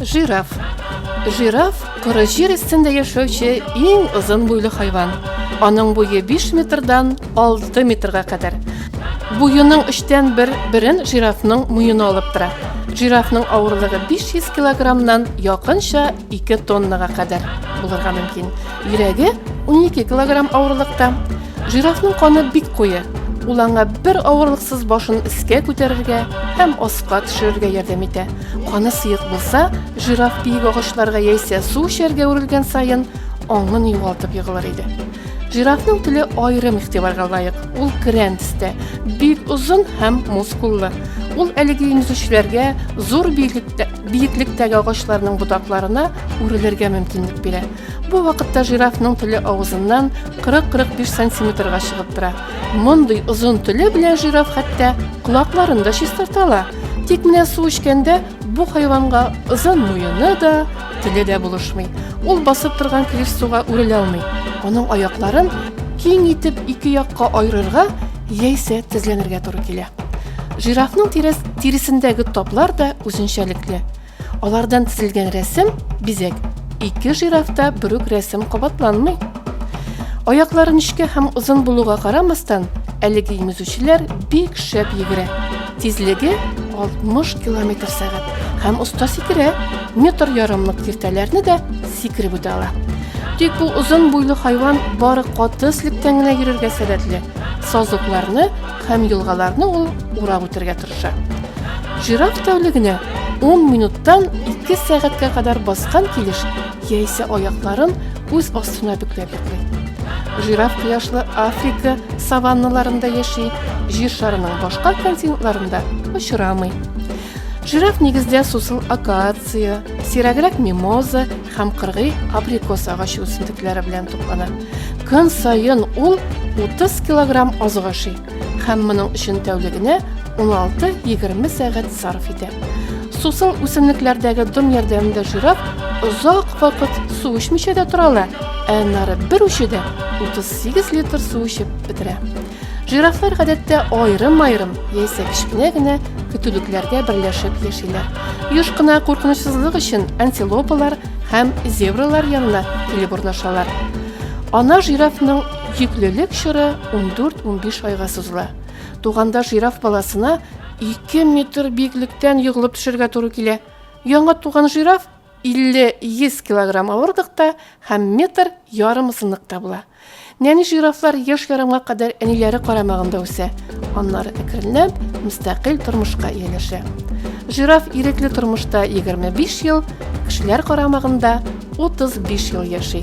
Жираф. Жираф коры җир өстендә яшәүче иң озын буйлы хайван. Аның буе 5 метрдан 6 метрга кадәр. Буеның өчтән бер берен жирафның муены алып тора. Жирафның авырлыгы 500 килограммнан якынча 2 тоннага кадәр булырга мөмкин. Йөрәге 12 килограмм авырлыкта. Жирафның каны бик куе. Ул аңа бер авырлыксыз башын өскә күтәрергә һәм аска төшерергә ярдәм итә. Каны сыек булса, жираф биек агачларга яисә су эчәргә үрелгән саен аңын югалтып егылыр иде. Жирафның теле аерым игътибарга лаек. Ул керән төстә, бик озын һәм мускуллы. Ул әлеге имзүчләргә зур биеклектәге агачларның ботакларына үрелергә мөмкинлек бирә. Бу вакытта жирафның теле авызыннан 40-45 сантиметрга чыгып тора. Мондый озын теле белән жираф хәтта колакларын да чистарта ала. Тик менә су эчкәндә бу хайванга озын муены да, теле дә булышмый. Ул басып торган килеш суга үрелә алмый. Аның аякларын киң итеп ике якка аерырга яисә тезләнергә туры килә. Жирафның тирәс, тиресендәге таплар да үзенчәлекле. Алардан тезелгән рәсем, бизәк. Ике жирафта бер үк рәсем кабатланмый. Аяклары нечкә һәм озын булуга карамастан, әлеге имезүчеләр бик шәп йөгерә. Тизлеге 60 километр сәгать һәм оста сикерә, метр ярымлык киртәләрне дә сикереп үтә ала. Тик бу озын буйлы хайван бары каты слектән генә йөрергә сәләтле. Сазлыкларны һәм елгаларны ул урап үтәргә тырыша. Жираф тәүлегенә 10 минуттан 2 сәгатькә кадәр баскан килеш яисә аякларын үз астына бөкләп йоклый. Жираф кояшлы Африка саванналарында яши, җир шарының башка континентларында очрамый. Жираф нигездә сусыл акация, сирәгрәк мимоза һәм кыргый абрикос агачы үсентекләре белән туклана. Көн саен ул 30 килограмм азык ашый һәм моның өчен тәүлегенә 16-20 сәгать сарыф итә. Сусын үсемлекләрдәге дым ярдәмендә жирап, озак вакыт су эчмичә дә тора ала, ә нары бер учыда 38 литр су эчеп бетерә. Жирафлар гадәттә аерым-аерым яисә кечкенә генә көтүлекләргә берләшеп яшиләр. Юш кына куркынычсызлык өчен антилопалар һәм зебралар янына килеп урнашалар. Ана жирафның йөклелек чоры 14-15 айга сузыла. Туганда жираф баласына 2 метр биеклектән егылып төшергә туры килә. Яңа туган жираф 50-100 килограмм авырлыкта һәм метр ярым озынлыкта була. Нәни жирафлар еш ярымга кадәр әниләре карамагында үсә, аннары әкренләп мөстәкыйль тормышка ияләшә. Жираф ирекле тормышта 25 ел, кешеләр карамагында 35 ел яши.